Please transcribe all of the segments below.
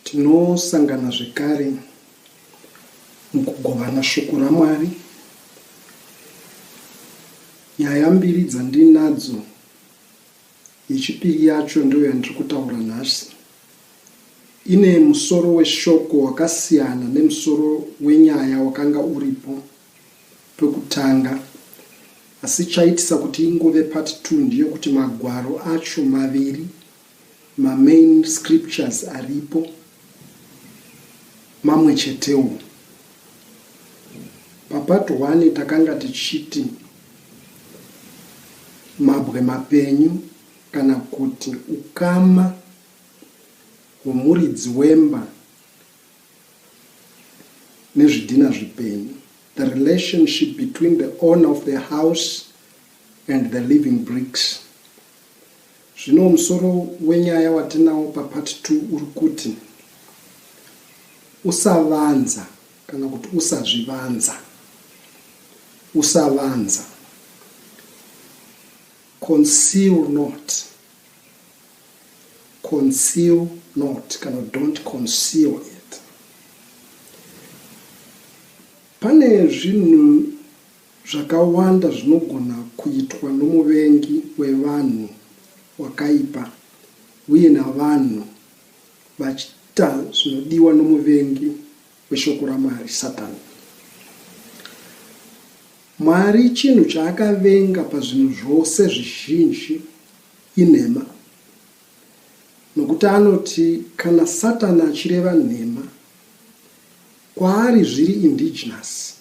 Tinosangana zvekare mukugovana shoko raMwari. Nyaya mbiri dzandinadzo, yechipiri yacho ndiyo yandiri kutaura nhasi. Ine musoro weshoko wakasiyana nemusoro wenyaya wakanga uripo. pekutanga asi chaitisa kuti ingove part two ndeyekuti magwaro acho maviri ma main scriptures aripo mamwe chetewo. Papart one takanga tichiti mabwe mapenyu kana kuti ukama hwomuridzi wemba nezvidhina zvipenyu the relationship between the owner of the house and the living bricks zvino musoro wenyaya watinawo papart 2 uri kuti usavanza kana kuti usazvivanza usavanza conceal not Conceal not kana don't conceal it. Pane zvinhu zvakawanda zvinogona kuitwa nomuvengi wevanhu wakaipa uye navanhu vachiita zvinodiwa nomuvengi weshoko raMwari, Satani. Mwari chinhu chaakavenga pazvinhu zvose zvizhinji Inhema. Nokuti anoti kana Satani achireva nhema, kwaari zviri indigenous,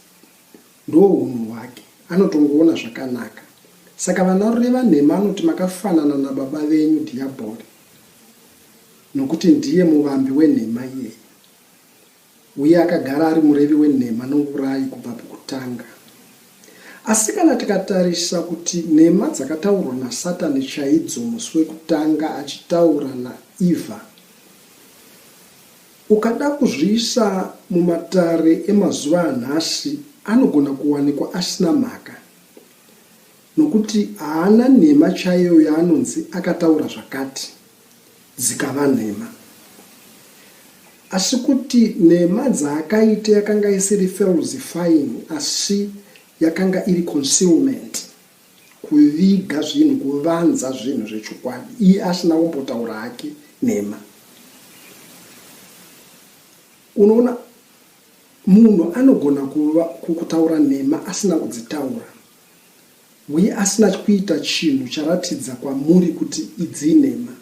ndohunhu hwake, anotongoona zvakanaka. Saka vanarureva nhema anoti makafanana nababa venyu Dhiyabhori, nokuti ndiye muvambi wenhema iyeye. Uye akagara ari murevi wenhema nourayi kubva pokutanga. Asi kana tikatarisa kuti nhema dzakataurwa naSatani chaidzo musi wekutanga achitaura naEvha, ukada kuzviisa mumatare emazuva anhasi anogona kuwanikwa asina mhaka, nokuti haana nhema chaiyo yaanonzi akataura zvakati. dzikava nhema. Asi kuti nhema dzaakaita yakanga isiri falsifying asi yakanga iri concealment, kuviga zvinhu, kuvanza zvinhu zvechokwadi, iye asina kumbotaura hake nhema. Unoona, munhu anogona kutaura nhema asina kudzitaura. Uye asina kuita chinhu charatidza kwamuri kuti idzi inhema.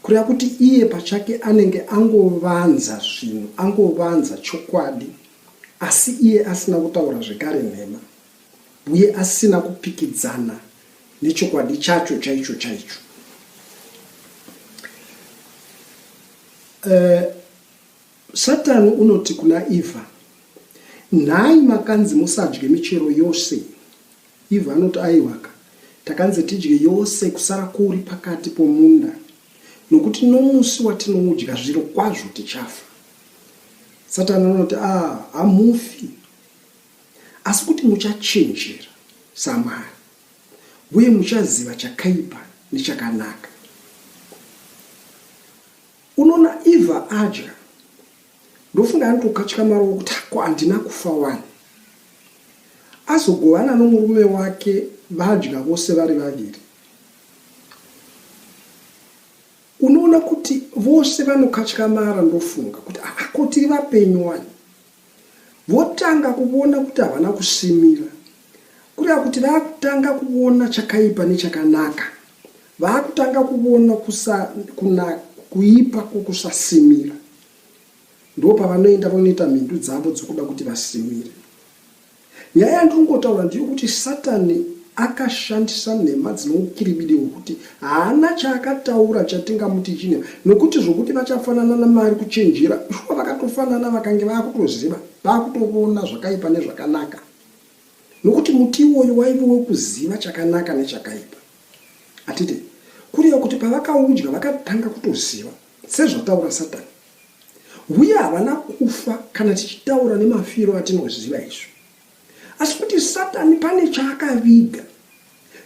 Kureva kuti iye pachake anenge angovanza zvinhu, angovanza chokwadi, asi iye asina kutaura zvekare nhema, uye asina kupikidzana nechokwadi chacho chaicho chaicho. Eh, Satani unoti kuna Eva, Nhai makanzi musadye michero yose? Eva anoti, Aiwaka, takanzi tidye yose kusara kuri pakati pomunda, nokuti nomusi watinoudya zvirokwazvo tichafa. Satani anoti, A, ah, hamufi, asi kuti muchachenjera samari uye muchaziva chakaipa nechakanaka. Unoona Eva adya ndofunga anotokatyamarawo kuti hako handina kufa wani. Azogovana nomurume wake vadya vose vari vaviri. Unoona kuti vose vanokatyamara ndofunga kuti hako tiri vapenyu wani. Votanga kuvona kuti havana kusimira. Kureva kuti vakutanga kuvona chakaipa nechakanaka. Vakutanga kuvona kusa, kuna, kuipa kwokusasimira. Ndopavanoenda vonoita mhindu dzavo dzokuda kuti vasimire. Nyaya yandiri kungotaura ndeyokuti Satani akashandisa nhema dzine ukiribidi hwekuti haana chaakataura chatingamuti chine nokuti zvokuti vachafanana naMwari kuchenjera, shuwa vakatofanana vakange vava kutoziva, vava kutovona zvakaipa nezvakanaka nokuti muti iwoyo waive wekuziva chakanaka nechakaipa. Hatidi kureva kuti pavakaudya vakatanga kutoziva sezvataura Satani. huye havana kufa kana tichitaura nemafiro atinoziva isu asi kuti satani pane chaakaviga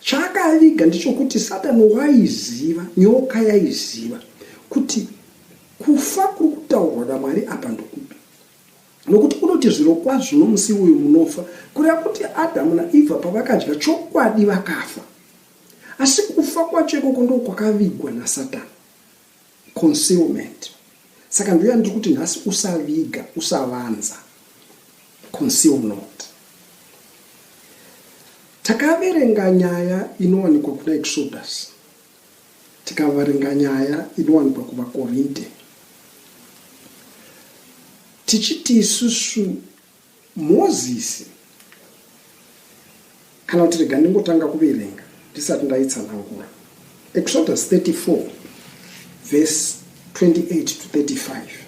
chaakaviga ndichokuti satani waiziva nyoka yaiziva kuti kufa kuri kutaurwa namwari apa ndokupi nokuti unoti zviro kwazvo nomusi uyu munofa kureva kuti adhamu naivha pavakadya chokwadi vakafa asi kufa kwacho ikoko ndokwakavigwa nasatani Concealment. Saka ndo yandiri kuti nhasi usaviga, usavanza. Conceal not. Takaverenga nyaya inowanikwa kuna Exodus. Tikavarenga nyaya inowanikwa kuvaKorinte. Tichiti isusu Mozisi, kana kuti rega ndingotanga kuverenga ndisati ndaitsanangura. Exodus 34 verse 28 to 35.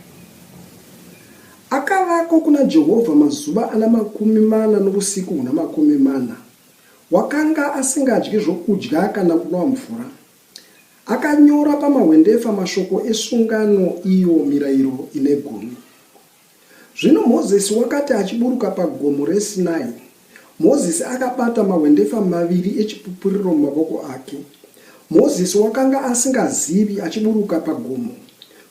Akavako kuna Jehovha mazuva ana makumi mana novusiku huna makumi mana. Wakanga asingadyi zvokudya kana kunwa mvura. Akanyora pamahwendefa mashoko esungano iyo mirayiro ine gumi. Zvino Mozisi wakati achiburuka paGomo reSinai, Mozisi akabata mahwendefa maviri eChipupuriro mumavoko ake. Mozisi wakanga asingazivi, achiburuka pagomo,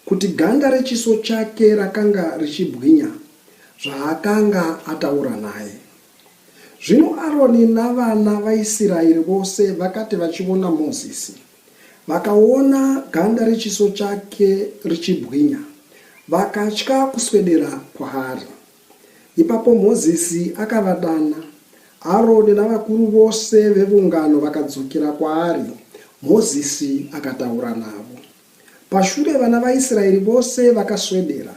kuti ganda rechiso chake rakanga richibwinya zvaakanga ataura naye. Zvino Aroni navana vaIsiraeri vose vakati vachiona Mozisi, Vakaona ganda rechiso chake richibwinya, vakatya kuswedera kwaari. Ipapo Mozisi akavadana. Aroni navakuru vose veungano vakadzokera kwaari, Mozisi akataura navo. Pashure vana vaIsraeri vose vakaswedera.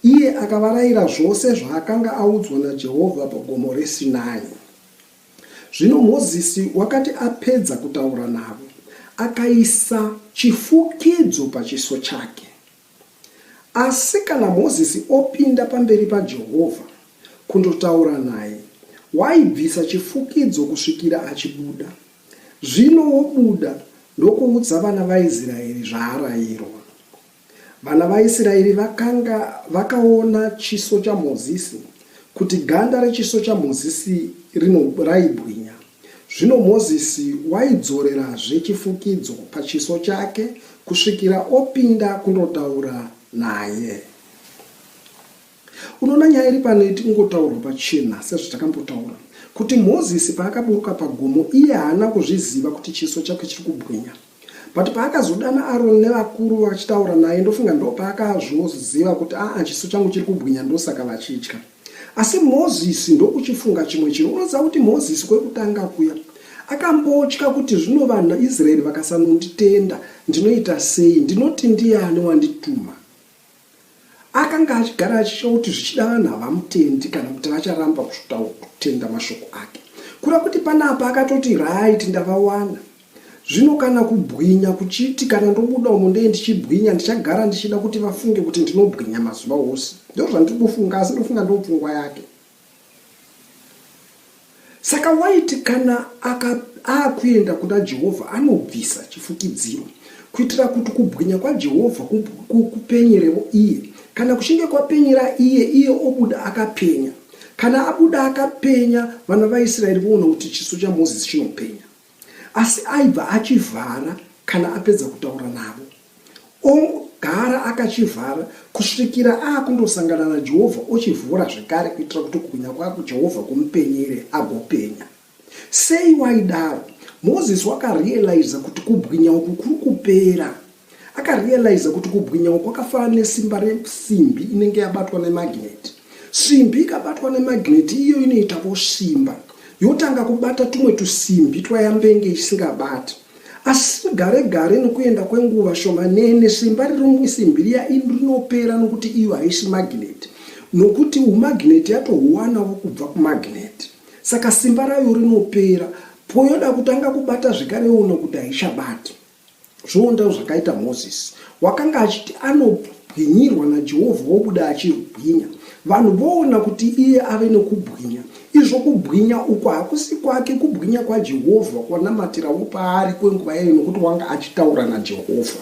Iye akavarayira zvose zvaakanga audzwa naJehovha paGomo reSinai. Zvino Mozisi wakati apedza kutaura navo, akaisa chifukidzo pachiso chake. Asi kana Mozisi opinda pamberi paJehovha kundotaura naye, waibvisa chifukidzo kusvikira achibuda. Zvino wobuda ndokuudza vana vaIsraeri zvaarayirwa. Vana vaIsiraeri vakanga vakaona chiso chaMozisi, kuti ganda rechiso chaMozisi rino raibwinya. Zvino Mozisi waidzorerazve chifukidzo pachiso chake kusvikira opinda kundotaura naye. Unoona nyaya iri pano iti kungotaurwa pachena sezvatakambotaura kuti Mozisi paakaburuka pagomo iye haana kuzviziva kuti chiso chake chiri kubwinya but paakazodana Aroni nevakuru vachitaura naye ndofunga ndopaakazvoziva kuti aa chiso changu chiri kubwinya ndosaka vachitya asi Mozisi ndokuchifunga chimwe chinhu unoziva kuti Mozisi kwekutanga kuya akambotya kuti zvino vanhu Israel vakasanonditenda ndinoita sei ndinoti ndiani wandituma Akanga achigara achitya kuti zvichida vanhu havamutendi kana kuti vacharamba kutenda mashoko ake. Kura kuti panapa akatoti right ndavawana. Zvino kana kubwinya kuchiti kana ndobuda umo ndee ndichibwinya ndichagara ndichida kuti vafunge kuti ndinobwinya mazuva ose. Ndozvandiri kufunga asi ndofunga ndopfungwa yake. Saka waiti kana akuenda kuna Jehovha anobvisa chifukidziro kuitira kuti kubwinya kwaJehovha kupenyerewo iye. Kana kuchinge kwapenyera iye, iye obuda akapenya. Kana abuda akapenya, vana vaIsraeri voona kuti chiso chaMozisi chinopenya. Asi aibva achivhara kana apedza kutaura navo. Ogara akachivhara kusvikira aakundosangana naJehovha ochivhura zvekare kuitira kuti kubwinya kwake Jehovha kumupenyere agopenya. Sei waidaro? Moses wakarealiza kuti kubwinya uku kuri kupera. Akarealiza kuti kubwinyawo kwakafanana nesimba resimbi inenge yabatwa nemagnet. Simbi ikabatwa nemagnet iyo inoita vosimba yotanga kubata tumwe tusimbi twayambenge isingabati. Asi gare gare nokuenda kwenguva shomanene simba riri musimbi riya rinopera nokuti iyo haisi magnet nokuti umagnet yatohuwanawo kubva kumagnet. Saka simba rayo rinopera poyoda kutanga kubata zvekare yoona kuti haichabati. Zvoondawo zvakaita Mozisi. Wakanga achiti anobwinyirwa naJehovha obuda achibwinya. Vanhu voona kuti iye ave nokubwinya. Izvo kubwinya uku hakusi kwake, kubwinya kwaJehovha kwanamatirawo paari kwenguva yayo nokuti wanga achitaura naJehovha.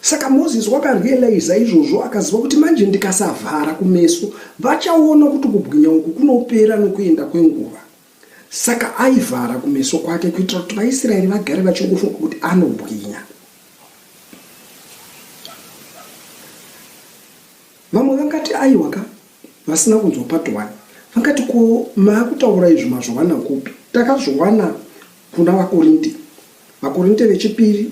Saka Mozisi wakarealiza izvozvo akaziva kuti manje ndikasavhara kumeso, vachaona kuti kubwinya uku kunopera nokuenda kwenguva. Saka aivhara kumeso kwake kuitira kuti vaIsraeri vagare vachingofunga kuti anobwinya. Vamwe vangati aiwa ka, vasina kunzwa part one. Vangati ko maakutaura izvi mazviwana kupi? Takazviwana kuna vaKorinte, vaKorinte vechipiri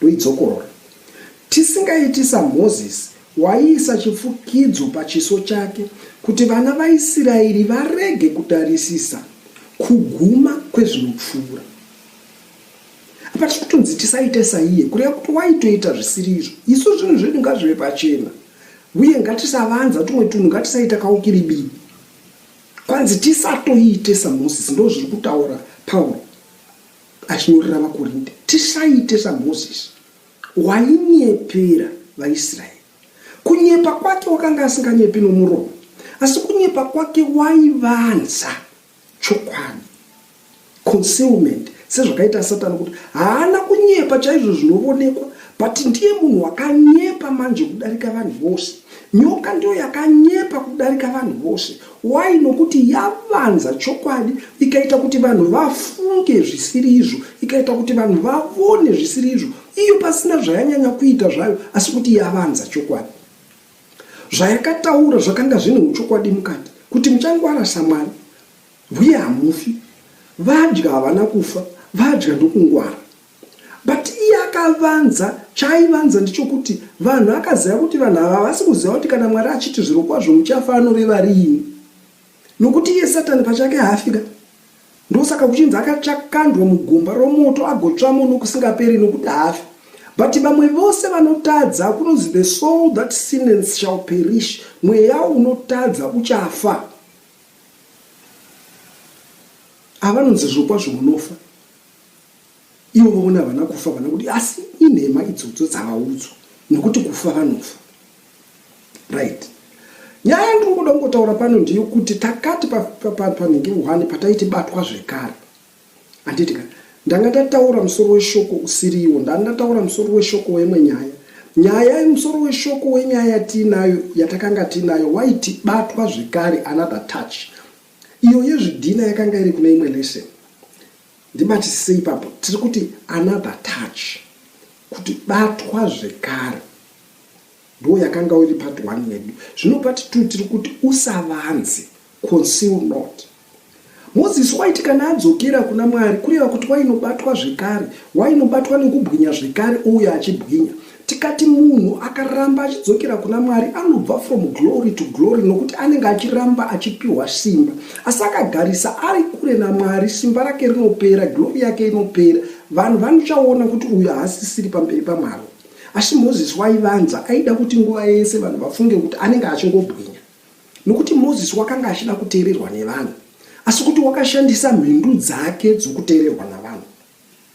Ndoidzokorora. Tisingaiti saMoses waiisa chifukidzo pachiso chake kuti vana vaIsiraeri varege kutarisisa kuguma kwezvinopfuura. Apa tiri kutonzi tisaite saiye, kureva kuti waitoita zvisiri izvo. Isu zvinhu zvedu ngazvive pachena, uye ngatisavanza tumwe tunhu, ngatisaita kaukiribidi. Kwanzi tisatoite saMoses, ndozviri kutaura Pauro. achinyorera vaKorinde, Tisaite saMozisi, wainyepera vaIsraeri. Kunyepa kwake wakanga asinganyepi nomuromo, asi kunyepa kwake waivanza chokwadi, concealment, sezvakaita Satani, kuti haana kunyepa chaizvo zvinovonekwa, but ndiye munhu wakanyepa manje kudarika vanhu vose. Nyoka ndiyo yakanyepa kudarika vanhu vose, Why nokuti yavanza chokwadi ikaita kuti vanhu vafunge zvisiri izvo ikaita kuti vanhu vavone zvisiri izvo iyo pasina zvayanyanya kuita zvayo asi kuti yavanza chokwadi zvayakataura zvakanga zvine uchokwadi mukati kuti muchangwara samwari huye hamufi vadya havana kufa vadya ndokungwara But iye akavanza, chaaivanza ndechokuti vanhu akaziva kuti vanhu ava havasi kuziva kuti kana Mwari achiti zvirokwazvo muchafa anoreva riini. Nokuti iye Satani pachake haafi ka. Ndosaka kuchinzi akachakandwa mugomba romoto agotsvamo nokusingaperi nokuti haafi. But vamwe vose vanotadza kunonzi the soul that sinnens shall perish, mweya unotadza uchafa. Ava vanonzi zvirokwazvo munofa. Ivo vaona havana kufa vana kuti asi inhema idzodzo dzavaudzwa nekuti kufa vanofa right nyaya yandingoda kungotaura pano ndeyekuti takati panhingi one pataiti batwa zvekare handiti ka ndanga ndataura musoro weshoko usiriwo ndanga ndataura musoro weshoko wemwe nyaya nyaya musoro weshoko wenyaya yatiinayo yatakanga tiinayo waiti batwa zvekare another touch iyo yezvidhina yakanga iri kune imwe lesson Ndimati sei ipapo tiri kuti another touch kuti batwa zvekare ndo yakanga iri part one yedu zvino part two tiri kuti usavanze conceal not moses waiti kana adzokera kuna mwari kureva kuti wainobatwa zvekare wainobatwa nekubwinya zvekare ouya achibwinya Tikati munhu akaramba achidzokera kuna Mwari anobva from glory to glory nokuti anenge achiramba achipiwa simba. Asi akagarisa ari kure naMwari simba rake rinopera, glory yake inopera. Vanhu vanochaona kuti uyu haasisiri pamberi paMwari. Asi Mozisi waivanza, aida kuti nguva yese vanhu vafunge kuti anenge achingobwinya. Nokuti Mozisi wakanga achida kuteererwa nevanhu, asi kuti wakashandisa mhindu dzake dzokuteererwa navanhu.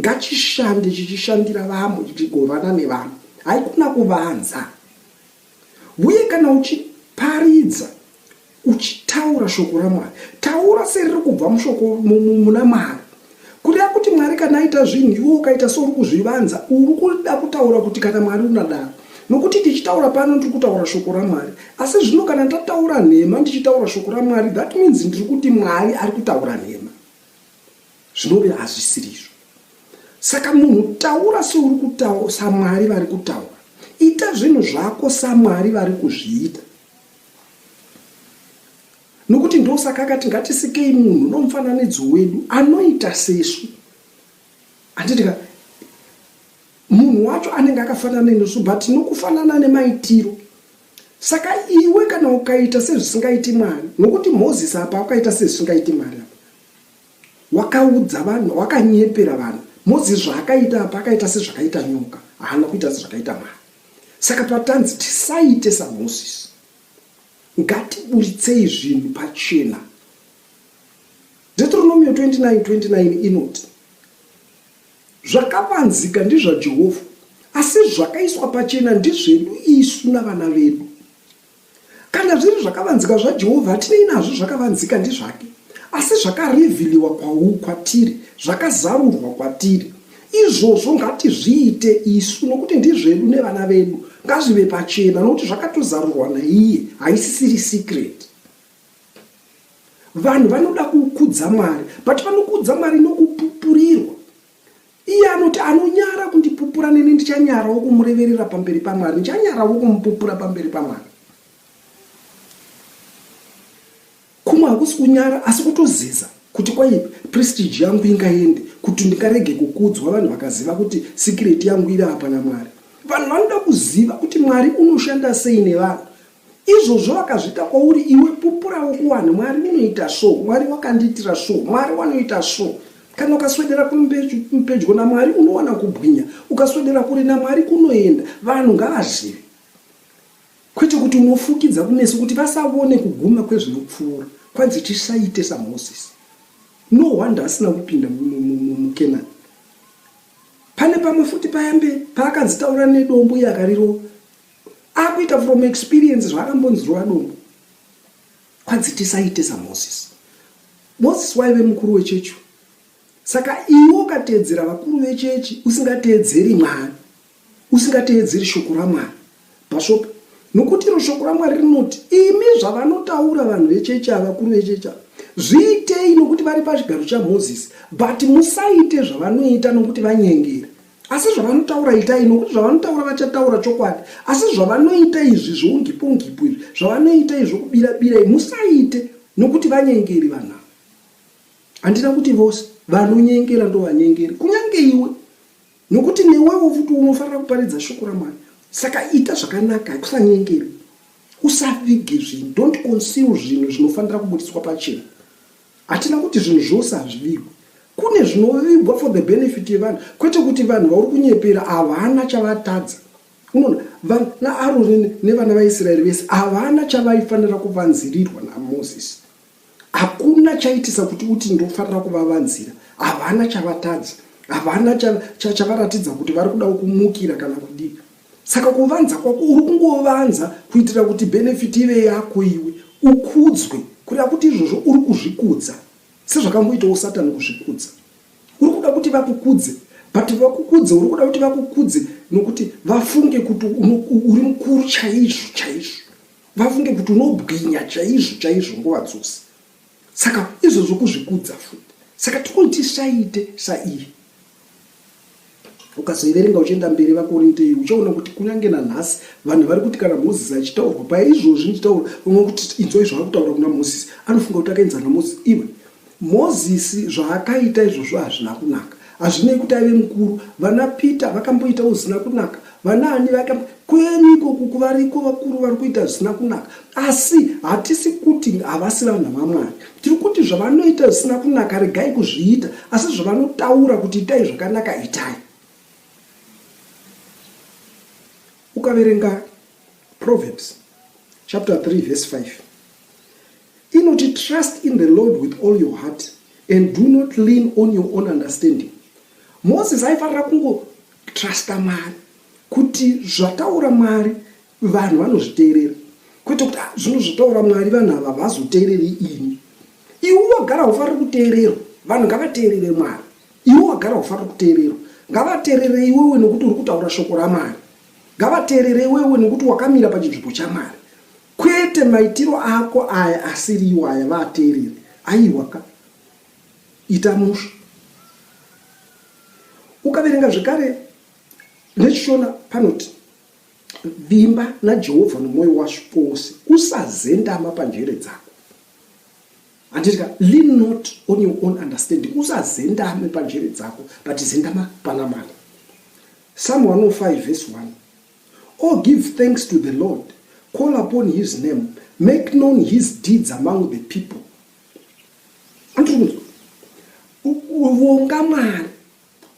Ngachishande chichishandira vamwe chichigovana nevamwe haikuna kuvanza uye kana uchiparidza uchitaura shoko raMwari taura seriri kubva mushoko muna Mwari kureva kuti Mwari kana aita zvinhu iwe ukaita seuri kuzvivanza uri kuda kutaura kuti kana Mwari unadaro nokuti tichitaura pano ndiri kutaura shoko raMwari asi zvino kana ndataura nhema ndichitaura shoko raMwari that means ndiri kuti Mwari ari kutaura nhema Zvinove hazvisiri izvo. Saka munhu taura seuri kutaura saMwari vari kutaura. Ita zvinhu zvako saMwari vari kuzviita. Nokuti ndosaka akati ngatisikei munhu nomufananidzo wedu anoita sesu. Handiti ka munhu wacho anenge akafanana nesu but nokufanana nemaitiro saka iwe kana ukaita sezvisingaiti mwari nokuti moses apa akaita sezvisingaiti mwari apa Wakaudza vanhu, wakanyepera vanhu. Moses zvaakaita apa akaita sezvakaita nyoka, haana kuita sezvakaita Mwari. Saka patanzi tisaite saMoses, ngatiburitsei zvinhu pachena. Deuteronomio 29 29 inoti zvakavanzika ndizvaJehovha, asi zvakaiswa pachena ndizvedu isu navana vedu. Kana zviri zvakavanzika zvaJehovha, hatinei nazvo zvakavanzika ndizvake, asi zvakarivhiliwa kwau, kwatiri, zvakazarurwa kwatiri. Izvozvo ngatizviite isu, nokuti ndizvedu nevana vedu, ngazvive pachena, nokuti zvakatozarurwa naiye, haisisiri secret. Vanhu vanoda kukudza Mwari, but vanokudza Mwari nokupupurirwa. Iye anoti anonyara kundipupura neni ndichanyarawo kumureverera pamberi paMwari, ndichanyarawo kumupupura pamberi paMwari. Kumwe hakusi kunyara asi kutoziza kuti kwai prestige yangu ingaende kuti ndingarege kukudzwa vanhu vakaziva kuti sikireti yangu iri apa naMwari. Vanhu vanoda kuziva kuti Mwari unoshanda sei nevanhu. Izvozvo vakazviita kwauri iwe pupurawo kuwanhu Mwari munoita so, Mwari wakandiitira so, Mwari wanoita so. Kana ukaswedera pedyo naMwari unowana kubwinya, ukaswedera kure naMwari kunoenda. Vanhu ngavazive kwete kuti unofukidza kumeso kuti vasavone kuguma kwezvinopfuura kwanzi tisaite saMoses. No wonder asina kupinda muKenani. Pane pamwe futi payambe paakanzi taura nedombo iye akarirova. akuita from experience zvaakambonzirwa dombo kwanzi tisaite samoses moses waive mukuru wechechi saka iwe ukateedzera vakuru vechechi usingateedzeri mwari usingateedzeri shoko ramwari bhashopi nokuti iro shoko ramwari rinoti imi zvavanotaura vanhu vechechi ava vakuru vechechi ava zviitei nokuti vari pachigaro chamoses but musaite zvavanoita nokuti vanyengera asi zvavanotaura itai nokuti zvavanotaura vachataura chokwadi asi zvavanoita izvi zvoungipongipo izvi zvavanoita izvi zvokubira bira musaite nokuti vanyengeri vanhu handina kuti vose vanonyengera ndovanyengeri kunyange iwe nokuti newewo futi unofanira kuparidza shoko ramwari saka ita zvakanaka kusanyengeri usavige zvinhu don't conceal zvinhu zvinofanira kubudiswa pachena Hatina kuti zvinhu zvose hazvivigwe. Kune zvinovigwa for the benefit yevanhu kwete kuti vanhu vauri kunyepera havana chavatadza. Unoona, vanhu naAroni nevana vaIsraeri vese havana chavaifanira kuvanzirirwa naMozisi. Hakuna chaitisa kuti uti ndofanira kuvavanzira. Havana chavatadza. Havana chavaratidza kuti vari kudawo kumukira kana kudii. Saka kuvanza kwako uri kungovanza kuitira kuti benefit ive yako iwe ukudzwe kureva kuti izvozvo uri kuzvikudza sezvakamboitawo satani kuzvikudza uri kuda kuti vakukudze but vakukudze uri kuda kuti vakukudze nokuti vafunge kuti uri mukuru chaizvo chaizvo vafunge kuti unobwinya chaizvo chaizvo nguva dzose Saka izvo zvokuzvikudza futi. Saka tokoni tisaite saiye. Ukazoiverenga uchienda mberi vaKorinte iyi uchaona kuti kunyange nanhasi vanhu vari kuti kana Mozisi achitaurwa paya izvozvi ndichitaura unwe kuti inzwa izvo ari kutaura kuna Mozisi anofunga kuti akaenzana Mozisi iwe Mozisi zvaakaita izvozvo hazvina kunaka Hazvinei kuti aive mukuru, vana Peter vakamboitawo zvisina kunaka, vanaani vakambo kwenyu ikoku kuvariko vakuru vari kuita zvisina kunaka, asi hatisi kuti havasi vanhu vaMwari. Tiri kuti zvavanoita zvisina kunaka regai kuzviita, asi zvavanotaura kuti itai zvakanaka itai. Ukaverenga Proverbs chapter 3 verse 5 Inoti trust in the Lord with all your heart and do not lean on your own understanding. Moses aifanira kungotrusta Mwari kuti zvataura Mwari vanhu vanozviteerera kwete kuti ah, zvinhu zvotaura Mwari vanhu ava vazoteereri ini. Iwe wagara ufanira kuteererwa, vanhu ngavateerere Mwari. Iwe wagara ufanira kuteererwa, ngavateerere iwewe nekuti uri kutaura shoko raMwari. Ngavateerere iwewe nekuti wakamira pachinzvimbo chaMwari. Kwete maitiro ako aya asiriwo aya vaateereri aiwa ka ita musha ukaverenga zvekare nechishona panoti vimba najehovha nomwoyo washo wose usazendama panjere dzako handiti ka lean not on your own understanding usazendame panjere dzako but zendama pana mwari psalm 105 vhesi 1 Or give thanks to the Lord, call upon his name, make known his deeds among the people. Andiri kunzwa. U- u- Vonga Mwari,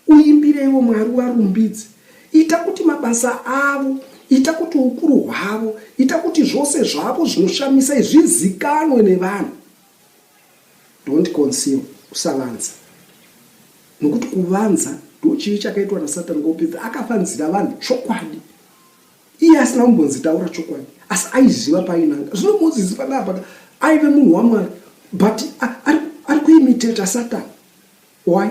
uimbireiwo Mwari uvarumbidze. Ita kuti mabasa avo, ita kuti ukuru hwavo, ita kuti zvose zvavo zvinoshamisa izvi zvizikanwe nevanhu. Don't conceal, usavanza. Nokuti kuvanza ndochivi chakaitwa naSatani kwokupedza. Akavanzira vanhu chokwadi. Iye asina kumbonzi taura chokwadi, asi aiziva painanga. Zvino Mozisi panapa aive munhu waMwari, but ari kuimiteta Satani. Why?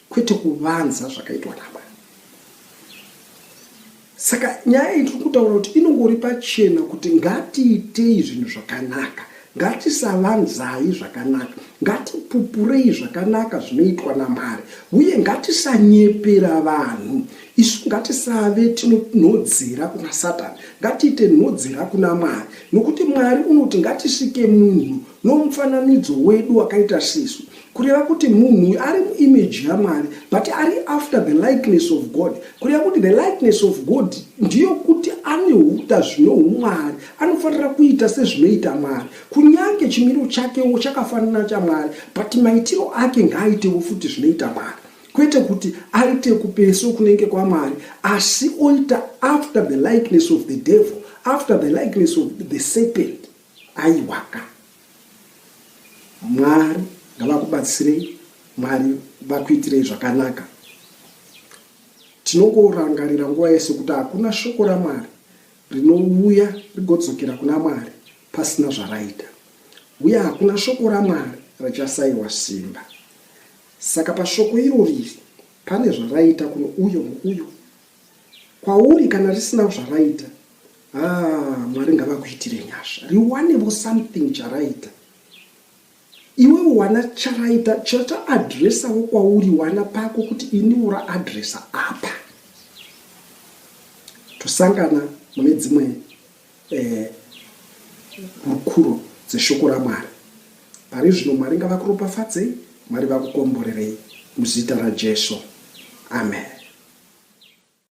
kwete kuvanza zvakaitwa nababa. Saka nyaya iyi tiri kutaura kuti inongori pachena kuti ngatiitei zvinhu zvakanaka, ngatisavanzai zvakanaka, ngatipupurei zvakanaka zvinoitwa naMwari, uye ngatisanyepera vanhu. Isu ngatisave tinonhodzera kuna Satani, ngatiite nhodzera kuna Mwari, nokuti Mwari unoti ngatisike munhu Nomufananidzo wedu wakaita sesu, kureva kuti munhu uyu ari muimage yaMwari, but ari after the likeness of God, kureva kuti the likeness of God ndeyokuti ane huta zvino humwari, anofanira kuita sezvinoita Mwari. Kunyange chimiro chakewo chakafanana chaMwari, but maitiro ake ngaaitewo futi zvinoita Mwari. Kwete kuti aite kupeso kunenge kwaMwari, asi oita after the likeness of the devil, after the likeness of the serpent. Aiwaka Mwari ngavakubatsirei Mwari vakuitirei zvakanaka. Tinongorangarira nguva yese kuti hakuna shoko raMwari rinouya rigodzokera kuna Mwari pasina zvaraita, uye hakuna shoko raMwari rachasaiwa simba. Saka pashoko iro riri pane zvaraita kuno uyo nouyo. Kwauri kana risina zvaraita haa mwari ngavakuitire nyasha riwanevo something charaita iwewe wana charaita chataadresavo kwauri wana pako kuti ini ura adresa apa tosangana mune dzimwe eh, hurukuro dzeshoko ramwari pari zvino mwari ngavakuropafadzei mwari vakukomborerei muzita rajesu amen